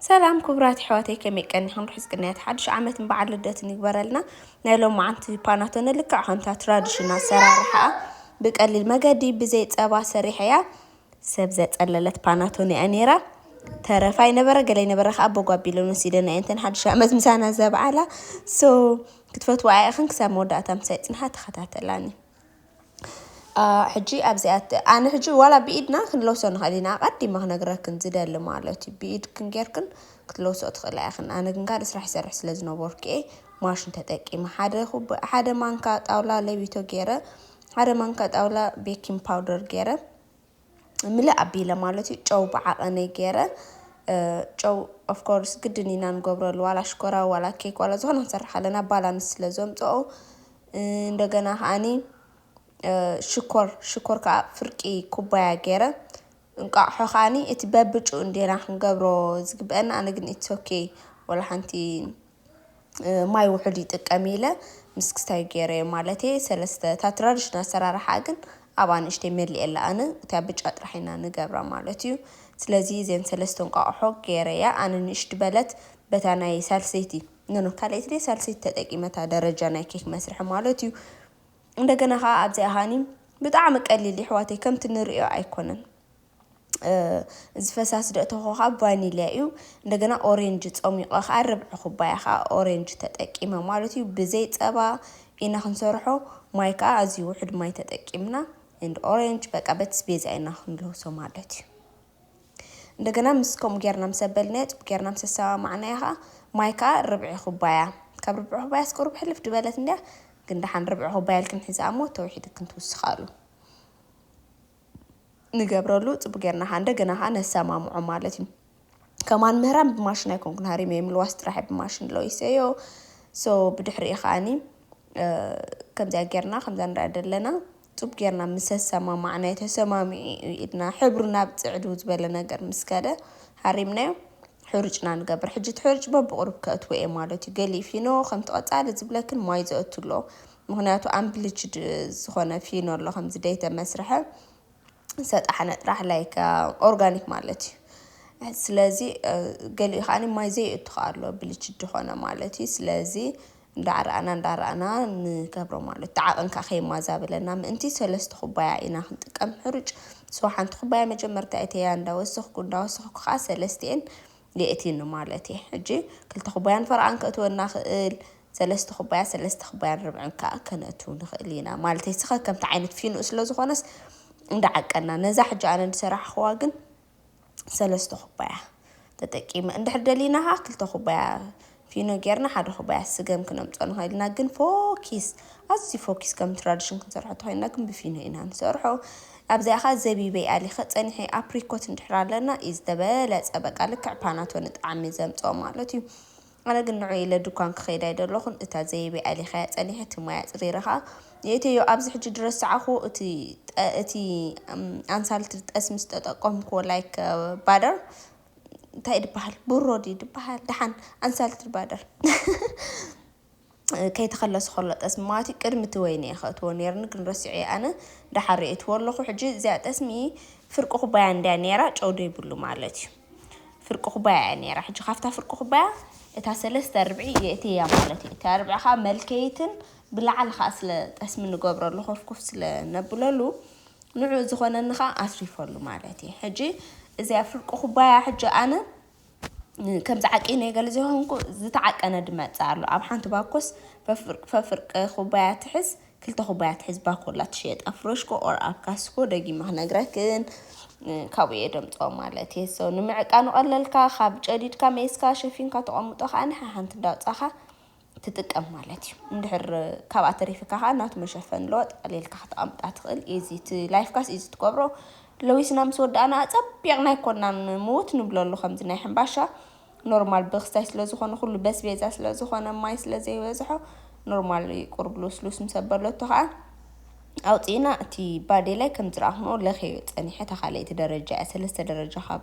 ሰላም ክቡራት ኣሕዋተይ ከመይ ቀኒክን ርሑስ ቅንያት ሓዱሽ ዓመትን በዓል ልደትን ይግበረልና። ናይ ሎማዓንቲ ፓናቶነ ልክዕ ከምታ ትራዲሽን ኣሰራርሓኣ ብቀሊል መገዲ ብዘይ ጸባ ሰሪሐያ ሰብ ዘጸለለት ፓናቶነ እያ ነይራ። ተረፋ ይነበረ ገለ ይነበረ ከዓ ኣቦ ጓቢለን ወሲደና እየንተን ሓዱሽ ዓመት ምሳና ዘብዓላ ሶ ክትፈትዋ ኢኽን ክሳብ መወዳእታ ምሳይ ጽንሓ ተኸታተላኒ። ሕጂ ኣብዚኣ ኣነ ሕጂ ዋላ ብኢድና ክንለብሶ ንኽእል ኢና ኣቐዲመ ክነግረክን ዝደሊ ማለት እዩ ብኢድክን ጌርክን ክትለብሶ ትኽእላ ኢኽን ኣነ ግን ካልእ ስራሕ ይሰርሕ ስለ ዝነበርኩ እየ ማሽን ተጠቂመ ሓደ ኩብ ሓደ ማንካ ጣውላ ለቢቶ ገይረ ሓደ ማንካ ጣውላ ቤኪንግ ፓውደር ገይረ ምልእ ኣቢለ ማለት እዩ ጨው ብዓቐነይ ገይረ ጨው ኦፍ ኮርስ ግድን ኢና ንገብረሉ ዋላ ሽኮራ ዋላ ኬክ ዋላ ዝኾነ ክንሰርሕ ኣለና ባላንስ ስለ ዘምጽኦ እንደገና ከዓኒ ሽኮር ሽኮር ከዓ ፍርቂ ኩባያ ገይረ እንቋቑሖ ከዓኒ እቲ በብጭኡ እንዴና ክንገብሮ ዝግበአና ኣነ ግን ኢትስ ኦኬ ወላ ሓንቲ ማይ ውሑድ ይጥቀም ኢለ ምስ ክስታይ ገይረዮ ማለተይ ሰለስተ እታ ትራዲሽናል ኣሰራርሓ ግን ኣብ ኣንእሽተይ መሊኤ ኣላ ኣነ እታ ብጫ ጥራሕ ኢና ንገብራ ማለት እዩ ስለዚ እዘን ሰለስተ እንቋቑሖ ገይረያ ኣነ ንእሽቲ በለት በታ ናይ ሳልሰይቲ ኖኖ ካልኣይቲ ድየ ሳልሰይቲ ተጠቂመ እታ ደረጃ ናይ ኬክ መስርሒ ማለት እዩ እንደገና ከዓ ኣብዚኣ ሃኒ ብጣዕሚ ቀሊል ይሕዋተይ ከምቲ ንርእዮ ኣይኮነን እዚ ፈሳሲ ዶ እተኾ ከኣ ቫኒልያ እዩ እንደገና ኦሬንጅ ጸሚቆ ከኣ ርብዒ ኩባያ ከኣ ኦሬንጅ ተጠቂመ ማለት እዩ ብዘይ ጸባ ኢና ክንሰርሖ ማይ ከኣ ኣዝዩ ውሑድ ማይ ተጠቂምና እንድ ኦሬንጅ በቃ በቲ ስቤዛ ኢና ክንልውሶ ማለት እዩ እንደገና ምስ ከምኡ ጌርና ምስ ኣበልናዮ ጽቡቅ ጌርና ምስ ኣሰማማዕናዮ ከኣ ማይ ከኣ ርብዒ ኩባያ ካብ ርብዒ ኩባያ እስከ ቁርብ ሕልፍ ድበለት እንድያ ግን ደሓን ርብዒ ኩባያ ኢልክን ሕዝኣ እሞ ተውሒድክን ትውስኻሉ ንገብረሉ ጽቡቅ ጌርና ከኣ እንደገና ከኣ ነሰማምዖ ማለት እዩ። ከማን ምህራም ብማሽን ኣይኮንኩን ሃሪመዮ ምልዋስ ጥራሕ ብማሽን ለዊሰዮ so ብድሕሪኡ ከኣኒ ከምዚኣ ጌርና ከምዛ ንሪኣ ዘለና ጡብ ጌርና ምስ ኣሰማማዕናዮ ተሰማሚዑ እዩ ኢልና ሕብሩ ናብ ጽዕድው ዝበለ ነገር ምስ ከደ ሃሪምናዮ ሕሩጭና ንገብር ሕጂ እቲ ሕሩጭ በብቑሩብ ከእትዎ እየ ማለት እዩ ገሊኡ ፊኖ ከምቲ ቀጻሊ ዝብለክን ማይ ዘእቱ ኣሎ ምኽንያቱ ኣምፕሊችድ ዝኾነ ፊኖ ኣሎ ከምዚ ደይተ መስርሐ ሰጣሕ ነጥራሕ ላይክ ኦርጋኒክ ማለት እዩ ስለዚ ገሊኡ ከዓኒ ማይ ዘይእቱ ከ ኣሎ ብልች ድኾነ ማለት እዩ ስለዚ እንዳረኣና እንዳረኣና ንገብሮ ማለት እቲ ዓቕን ከ ከይማዛበለና ምእንቲ ሰለስተ ኩባያ ኢና ክንጥቀም ሕሩጭ ሶ ሓንቲ ኩባያ መጀመርታ እተያ እንዳወሰኽኩ እንዳወሰኽኩ ከዓ ሰለስቲኤን ሊኤቲኒ ማለት እየ ሕጂ ክልተ ኩባያን ፈረቓን ከእትወልና ክእል ሰለስተ ኩባያ ሰለስተ ክባያን ርብዕን ከኣ ከነእትው ንክእል ኢና ማለተይ ስከ ከምቲ ዓይነት ፊኑኡ ስለ ዝኾነስ እንዳ ዓቀና ነዛ ሕጂ ኣነ ድሰራሕኽዋ ግን ሰለስተ ኩባያ ተጠቂመ እንድሕር ደሊና ከኣ ክልተ ኩባያ ፊኖ ጌርና ሓደ ኩባያ ስገም ክነምጾ ንክእል ኢና ግን ፎኪስ ኣዝዩ ፎኪስ ከም ትራዲሽን ክንሰርሖ ተኮይንና ግን ብፊኖ ኢና ንሰርሖ ኣብዚኣ ከኣ ዘቢበይ ኣሊከ ጸኒሐ ኣፕሪኮት እንድሕር ኣለና ኢዩ ዝተበለጸ በቃ ልክዕ ፓናቶነ ጣዕሚ ዘምጽኦ ማለት ኢዩ ኣነ ግን ንዑ ኢለ ድኳን ክኸይድ ኣይደለኹን እታ ዘቢበይ ኣሊኸያ ጸኒሐ እቲ ማይ ኣጽሪረ ከኣ የእተዮ ኣብዚ ሕጂ ድረስ ሰዓኹ እቲ እቲ ኣንሳልቲ ጠስሚ ዝተጠቀምኩዎ ላይክ ባደር እንታይ ድበሃል ብሮ ድዩ ድበሃል ደሓን ኣንሳልት ድባደር ከይተኸለሱ ከሎ ጠስሚ ማለት እዩ ቅድሚ እቲ ወይኒ እየ ከእትዎ ነይርኒ ግን ረሲዑ እየ ኣነ ደሓር ርእየትዎ ኣለኹ ሕጂ እዚኣ ጠስሚ ፍርቂ ኩባያ እንድያ ነይራ ጨው ዶ ይብሉ ማለት እዩ ፍርቂ ኩባያ እያ ነይራ ሕጂ ካብታ ፍርቂ ኩባያ እታ ሰለስተ ርብዒ የእትያ ማለት እዩ እታ ርብዒ ከዓ መልከይትን ብላዕሊ ከዓ ስለ ጠስሚ ንገብረሉ ኮፍኩፍ ስለ ነብለሉ ንዑኡ ዝኾነኒ ከኣ ኣትሪፈሉ ማለት እየ ሕጂ እዚኣ ፍርቂ ኩባያ ሕጂ ኣነ ከምዚ ዓቂነ ገለ ዘይኮንኩ ዝተዓቀነ ድመጽእ ኣሎ ኣብ ሓንቲ ባኮስ ፈፍርቂ ኩባያ ትሕዝ ክልተ ኩባያ ትሕዝ ባኮላ ትሽየጥ ኣብ ፍረሽኮ ኦር ኣብ ካስኮ ደጊመ ክነግረክን ካብኡ እየ ደምጽኦ ማለት እየ ሰው ንምዕቃኑ ቀለልካ ካብ ጨዲድካ ሜስካ ሸፊንካ ተቐምጦ ከኣ ሓንቲ እንዳውጻኻ ትጥቀም ማለት እዩ እንድሕር ካብኣ ተሪፍካ ከዓ ናቱ መሸፈኒ ኣለዎ ጠቕሊልካ ከተቐምጣ ትኽእል ኢዚ እቲ ላይፍ ጋስ ኢዚ ትገብሮ ለዊስና ምስ ወዳእና ኣፀቢቕና ኣይኮናን ምውት ንብለሉ ከምዚ ናይ ሕምባሻ ኖርማል ብክስታይ ስለ ዝኾነ ኩሉ በስቤዛ ስለ ዝኾነ ማይ ስለ ዘይበዝሖ ኖርማል እዩ ቁርብ ልስሉስ ምስ ኣበለቶ ከዓ ኣውፂእና እቲ ባዴ ላይ ከም ዝረኣኹንኦ ለኸዮ ፀኒሐ እታ ካልኣይቲ ደረጃ እያ ሰለስተ ደረጃ ካብ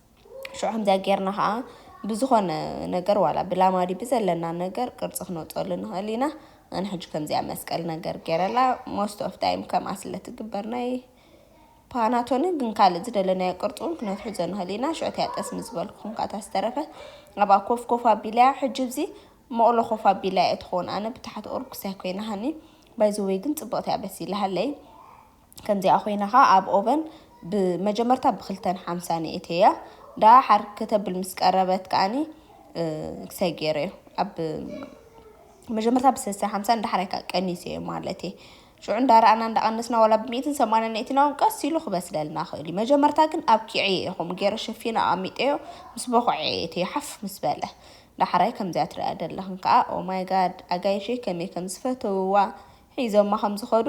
ሽዑ ከምዚኣ ጌርና ከኣ ብዝኾነ ነገር ዋላ ብላማዲ ብዘለና ነገር ቅርጺ ክነውጸሉ ንኽእል ኢና። ኣነ ሕጂ ከምዚኣ መስቀል ነገር ጌረላ ሞስት ኦፍ ታይም ከምኣ ስለ ትግበር ናይ ፓናቶኒ ግን ካልእ ዝደለናዮ ቅርጺ እውን ክነትሕዞ ንኽእል ኢና። ሽዑ እቲኣ ጠስሚ ዝበልኩኹም ከኣ እታ ዝተረፈ ኣብኣ ኮፍ ኮፍ ኣቢለያ ሕጂ እዚ መቕሎ ኮፍ ኣቢለያ እየ ትኸውን ኣነ ብታሕቲ ኦርኩሳይ ኮይናሃኒ ባይ ዘ ወይ ግን ጽብቕቲ እያ በሲላሃለይ። ከምዚኣ ኮይና ከኣ ኣብ ኦቨን ብመጀመርታ ብክልተን ሓምሳን የእትየያ ደኣ ሓር ከተብል ምስ ቀረበት ከኣኒ ክሳይ ገይረዮ ኣብ መጀመርታ ብሰሳ ሓምሳን ዳሕራይ ከኣ ቀኒሰዮ ማለት እየ ሽዑ እንዳረኣና እንዳቀነስና ዋላ ብሚእትን ሰማንያን የእትና እውን ቀስ ኢሉ ክበስለልና ክእል እዩ መጀመርታ ግን ኣብ ኪዕየ ኢኹም ገይረ ሸፊነ ኣቀሚጠዮ ምስ በኩዐ የእትዮ ሓፍ ምስ በለ ዳሕራይ ከምዚኣ ትርእያ ደለኽን ከኣ ኦማይ ጋድ ኣጋይሸይ ከመይ ከም ዝፈተውዋ ሒዞማ ከም ዝኸዱ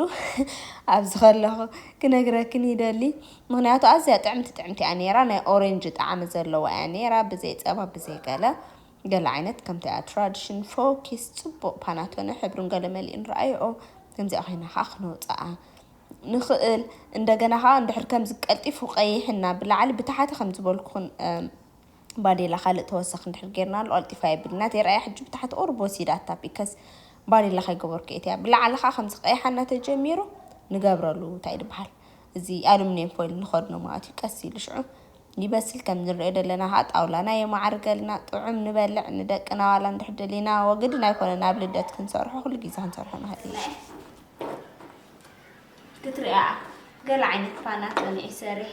ኣብዚ ከለኹ ክነግረክን ይደሊ ምኽንያቱ ኣዝያ ጥዕምቲ ጥዕምቲ እያ ኔራ ናይ ኦሬንጅ ጣዕሚ ዘለዋ እያ ኔራ ብዘይ ጸባ ብዘይ ገለ ገለ ዓይነት ከምቲ እያ ትራዲሽን ፎኪስ ጽቡቕ ፓናቶነ ሕብርን ገለ መሊኡን ረኣይኦ ከምዚኣ ኮይና ከኣ ክነውጽኣ ንኽእል እንደገና ከኣ እንድሕር ከምዚ ቀልጢፉ ቀይሕና ብላዕሊ ብታሕቲ ከም ዝበልኩኽን ባዴላ ካልእ ተወሳኪ እንድሕር ጌርናሉ ቀልጢፉ ኣይብልን ናተይ ረኣያ ሕጂ ብታሕቲ ቁሩብ ወሲዳታ ቢከስ ባዴላ ከይገበርኩ እየ እቲኣ ብላዕሊ ከኣ ከምዚ ቀይሓ እናተጀሚሩ ንገብረሉ ታይ ድበሃል እዚ ኣሉምኔም ፎይል ንከድኖ መኣት እዩ ቀስ ኢሉ ሽዑ ይበስል ከም ንሪኦ ደለና ከኣ ጣውላና የማዕርገልና ጥዑም ንበልዕ ንደቅና ዋላ እንድሕር ደሊና ወግድን ኣይኮነን ኣብ ልደት ክንሰርሖ ኩሉ ግዜ ክንሰርሖ ንክእል ኢና ክትሪኣ ገለ ዓይነት ፋና ቀኒዒ ሰሪሕ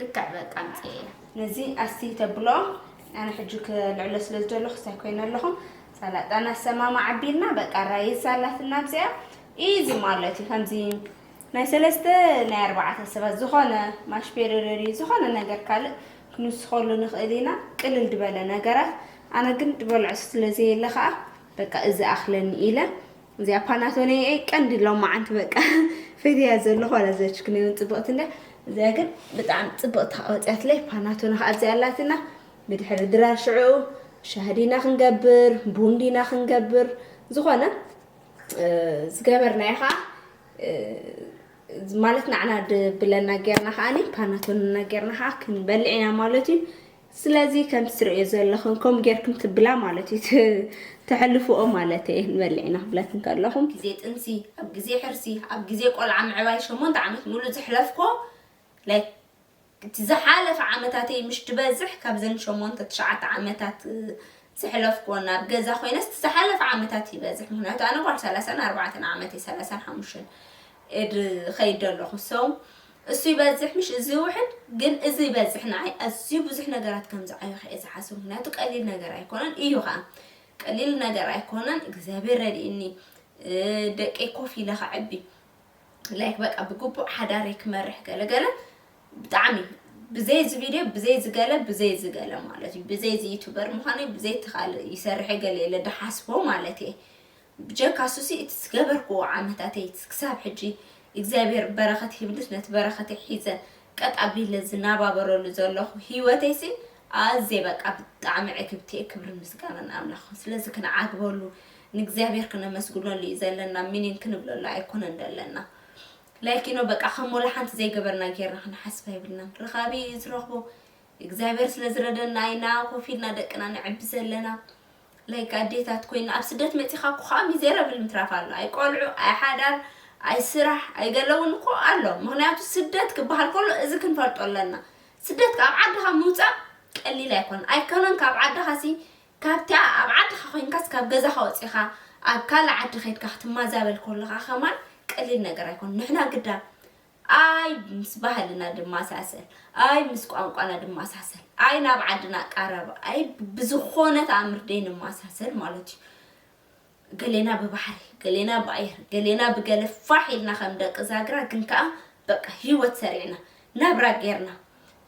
ልክዕ በቃ ኣምጽኤ ነዚ ኣስቲ ተብሎ ኣነ ሕጂ ክልዕሎ ስለ ዝደለኹ ክሳይ ኮይነ ኣለኹ ሰላጣ ናሰማማ ዓቢልና በቃ ራይዝ ኣላትና ኣብዚኣ ኢዚ ማለት እዩ ከምዚ ናይ ሰለስተ ናይ ኣርባዕተ ሰባት ዝኾነ ማሽፔረረሪ ዝኾነ ነገር ካልእ ክንስኸሉ ንኽእል ኢና ቅልል ድበለ ነገራት ኣነ ግን ድበልዖ ስለዘየለ ከዓ በቃ እዚ ኣኽለኒ ኢለ እዚኣ ፓናቶኔ እየ ቀንዲ ሎማዓንቲ በቃ ፈትያ ዘለኹ ዋላ ዘችክኒ እውን ፅብቕቲ እንድያ እዚኣ ግን ብጣዕሚ ፅብቕቲ ከዓ ወፅያትለይ ፓናቶነ ከዓ ኣብዚኣ ኣላትና ብድሕሪ ድራር ሽዕኡ ሻህዲና ክንገብር ቡንዲና ክንገብር ዝኾነ ዝገበርናዮ ከዓ ማለት ናዕና ብለና ጌርና ከዓኒ ፓናቶንና ጌርና ከዓ ክንበልዕ ኢና ማለት እዩ ስለዚ ከምቲ ትርእዮ ዘለኽን ከምኡ ጌርክን ትብላ ማለት እዩ ተሕልፍኦ ማለት እየ ንበልዕ ኢና ክብለክን ከለኹ። ግዜ ጥንሲ ኣብ ግዜ ሕርሲ ኣብ ግዜ ቆልዓ ምዕባይ ሸሞንተ ዓመት ሙሉእ ዘሕለፍክዎ like እቲ ዝሓለፈ ዓመታተይ ምሽ ድበዝሕ ካብዘን ሸሞንተ ትሽዓተ ዓመታት ዘሕለፍክዎን ኣብ ገዛ ኮይነስ እቲ ዝሓለፈ ዓመታት ይበዝሕ ምኽንያቱ ኣነ ጓል ሰላሳን ኣርባዕተን ዓመት እየ ሰላሳን ሓሙሽተን እድ ኸይድ ደለኹ so እሱ ይበዝሕ ምሽ እዚ ይውሕድ ግን እዚ ይበዝሕ ንዓይ ኣዝዩ ብዙሕ ነገራት ከም ዝዓየኹ እየ ዝሓስብ ምክንያቱ ቀሊል ነገር ኣይኮነን እዩ ከዓ ቀሊል ነገር ኣይኮነን እግዚኣብሔር ረድእኒ ደቀይ ኮፍ ኢለ ከዕቢ ላይክ በቃ ብግቡእ ሓዳረይ ክመርሕ ገለገለ ብጣዕሚ ብዘይ እዚ ቪድዮ ብዘይ ዝገለ ብዘይ ዝገለ ማለት እዩ ብዘይ እዚ ዩቱበር ምዃነይ ብዘይ ተኻል ይሰርሐ ገለ የለ ድሓስቦ ማለት እየ ብጀካ እሱሲ እቲ ዝገበርክዎ ዓመታተይ ክሳብ ሕጂ እግዚኣብሄር በረኸት ሂብንስ ነቲ በረኸተይ ሒዘ ቀጥ ኣቢለ ዝናባበረሉ ዘለኹ ሂወተይሲ ኣዝየ በቃ ብጣዕሚ ዕግብቲየ ክብርን ምስጋናን ንኣምላኽ ስለዚ ክንዓግበሉ ንእግዚኣብሄር ክነመስግነሉ እዩ ዘለና ሚኒን ክንብለሉ ኣይኮነን ደለና ላይኪኖ በቃ ከም ወላሓንቲ ዘይገበርና ጌርና ክንሓስብ ኣይብልናን ረኻቢ እዩ ዝረኽቦ እግዚኣብሄር ስለዝረደና ኢና ኮፍ ኢልና ደቅና ነዕቢ ዘለና like ኣዴታት ኮይና ኣብ ስደት መጺኻ እኮ ከኣ ሚዘረብል ምትራፍ ኣሎ ኣይ ቆልዑ ኣይ ሓዳር ኣይ ስራሕ ኣይ ገለ ውን እኮ ኣሎ ምክንያቱ ስደት ክበሃል ከሎ እዚ ክንፈልጦ ኣለና ስደት ካብ ዓድኻ ምውጻእ ቀሊል ኣይኮነን ኣይከነን ካብ ዓድኻ ሲ ካብቲኣ ኣብ ዓድኻ ኮይንካስ ካብ ገዛኻ ወጺኻ ኣብ ካልእ ዓዲ ከድካ ክትማዛበል ከለኻ ከማን ቀሊል ነገር ኣይኮነን ንሕና ግዳ ኣይ ምስ ባህልና ድማሳሰል ኣይ ምስ ቋንቋና ድማሳሰል ኣይ ናብ ዓድና ቃረብ ኣይ ብዝኾነ ተኣምር ደይንማሳሰል ማለት እዩ ገሌና ብባሕሪ ገሌና ብኣየር ገሌና ብገለ ፋሕ ኢልና ከም ደቂ ዛግራ ግን ከዓ በቃ ህይወት ሰሪዕና ናብራ ጌርና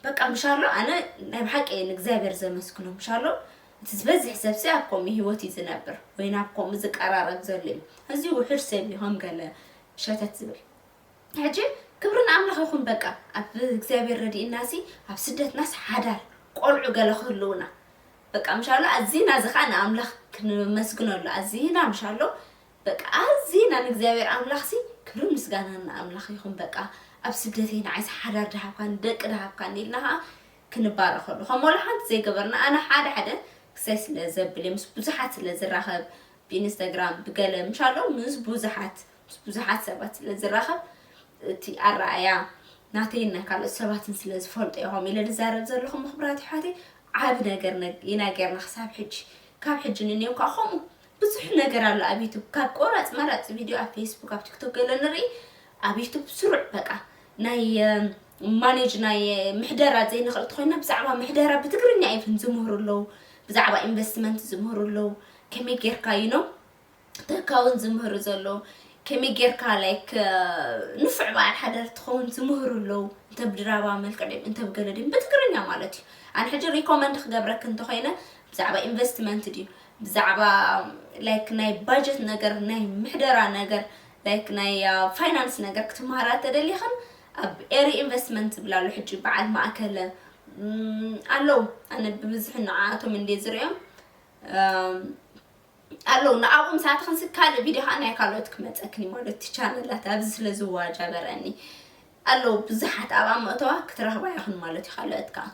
በቃ ምሻሎ ኣነ ናይ ብሓቂ እየ ንእግዚኣብሔር ዘመስግኖ ምሻሎ እቲ ዝበዝሕ ሰብሲ ኣብ ከምኡ ህይወት እዩ ዝነብር ወይ ናብ ከምኡ ዝቀራረብ ዘሎ እዩ እዚ ውሑድ ሰብ እዩ ከም ገለ ሸተት ዝብል ሕጂ ክብሪ ንኣምላኽ ይኹን በቃ ኣብ እግዚኣብሔር ረዲእናሲ ኣብ ስደትናስ ሓዳር ቆልዑ ገለ ክህልዉና በቃ ምሻሎ ኣዚና እዚ ከኣ ንኣምላኽ ክንመስግነሉ ኣዚና ምሻሎ በቃ ኣዚና ንእግዚኣብሔር ኣምላኽሲ ክብርን ምስጋናን ንኣምላኽ ይኹን በቃ ኣብ ስደተይ ንዓይሲ ሓዳር ድሃብካኒ ደቂ ድሃብካኒ ኢልና ከኣ ክንባረኸሉ ከም ወላ ሓንቲ ዘይገበርና ኣነ ሓደ ሓደ ክሳይ ስለ ዘብል ምስ ብዙሓት ስለ ዝራኸብ ብኢንስታግራም ብገለ ምሻሎ ምስ ብዙሓት ምስ ብዙሓት ሰባት ስለ ዝራኸብ እቲ ኣረኣእያ ናተይን ናይ ካልኦት ሰባትን ስለ ዝፈልጦ እየ ከምኡ ኢለ ዝዛረብ ዘለኹ እሞ ክቡራት ኣሕዋተይ ዓቢ ነገር ኢና ጌርና ክሳብ ሕጂ ካብ ሕጂ ንንየው ከዓ ከምኡ ብዙሕ ነገር ኣሎ ኣብ ዩቱብ ካብ ቆራፅ መራፅ ቪድዮ ኣብ ፌስቡክ ኣብ ቲክቶክ ገለ ንርኢ ኣብ ዩቱብ ስሩዕ በቃ ናይ ማኔጅ ናይ ምሕደራ ዘይንኽእል ተኮይና ብዛዕባ ምሕደራ ብትግርኛ ኢቭን ዝምህሩ ኣለዉ ብዛዕባ ኢንቨስትመንት ዝምህሩ ኣለዉ ከመይ ጌርካ እዩ ነው ተካውን ዝምህሩ ዘለዉ ከመይ ጌርካ ላይክ ንፉዕ በዓል ሓዳር ትኸውን ዝምህሩ ኣለዉ እንተ ብድራማ መልክዕ ድም እንተ ብገለ ድም ብትግርኛ ማለት እዩ ኣነ ሕጂ ሪኮመንድ ክገብረክ እንተኮይነ ብዛዕባ ኢንቨስትመንት ድዩ ብዛዕባ ላይክ ናይ ባጀት ነገር ናይ ምሕደራ ነገር ላይክ ናይ ፋይናንስ ነገር ክትመሃራ ተደሊኽን ኣብ ኤሪ ኢንቨስትመንት ዝብላ ኣሎ ሕጂ በዓል ማእከለ ኣለው ኣነ ብብዝሒ ንዓኣቶም እንደ ዝሪኦም ኣለዉ ንኣብኦም ሰዓት ክንሲ ካልእ ቪድዮ ከዓ ናይ ካልኦት ክመፀክን እዩ ማለት እቲ ቻነላት ኣብዚ ስለ ዝዋጃበረኒ ኣለዉ ብዙሓት ኣብኣ መእተዋ ክትረኽባ ይኽን ማለት እዩ ካልኦት ከዓ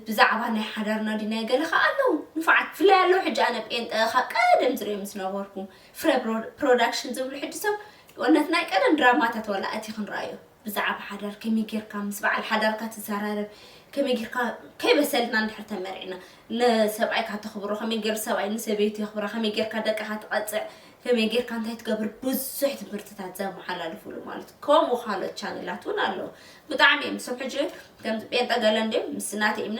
ብዛዕባ ናይ ሓዳርና ድዩ ናይ ገለ ከዓ ኣለዉ ንፉዓት ብፍላይ ኣለዉ ሕጂ ኣነ ጴንጠ ካብ ቀደም ዝሪኦም ዝነበርኩ ፍረ ፕሮዳክሽን ዝብሉ ሕጂ ሰብ ወነት ናይ ቀደም ድራማታት ዋላ እቲ ክንረኣዩ ብዛዕባ ሓዳር ከመይ ጌርካ ምስ በዓል ሓዳርካ ትዘራረብ፣ ከመይ ጌርካ ከይበሰልና እንድሕር ተመሪዕና ንሰብኣይካ ተኽብሮ፣ ከመይ ጌሩ ሰብኣይ ንሰበይቱ የኽብራ፣ ከመይ ጌርካ ደቅኻ ትቐጽዕ፣ ከመይ ጌርካ እንታይ ትገብር ብዙሕ ትምህርትታት ዘመሓላልፉሉ ማለት ከምኡ ካልኦት ቻነላት እውን ኣለዉ ብጣዕሚ እዮም ክሳብ ሕጂ ከምዚ ጴንጠ ገለ እንድዮም ምስ ናተይ እምነት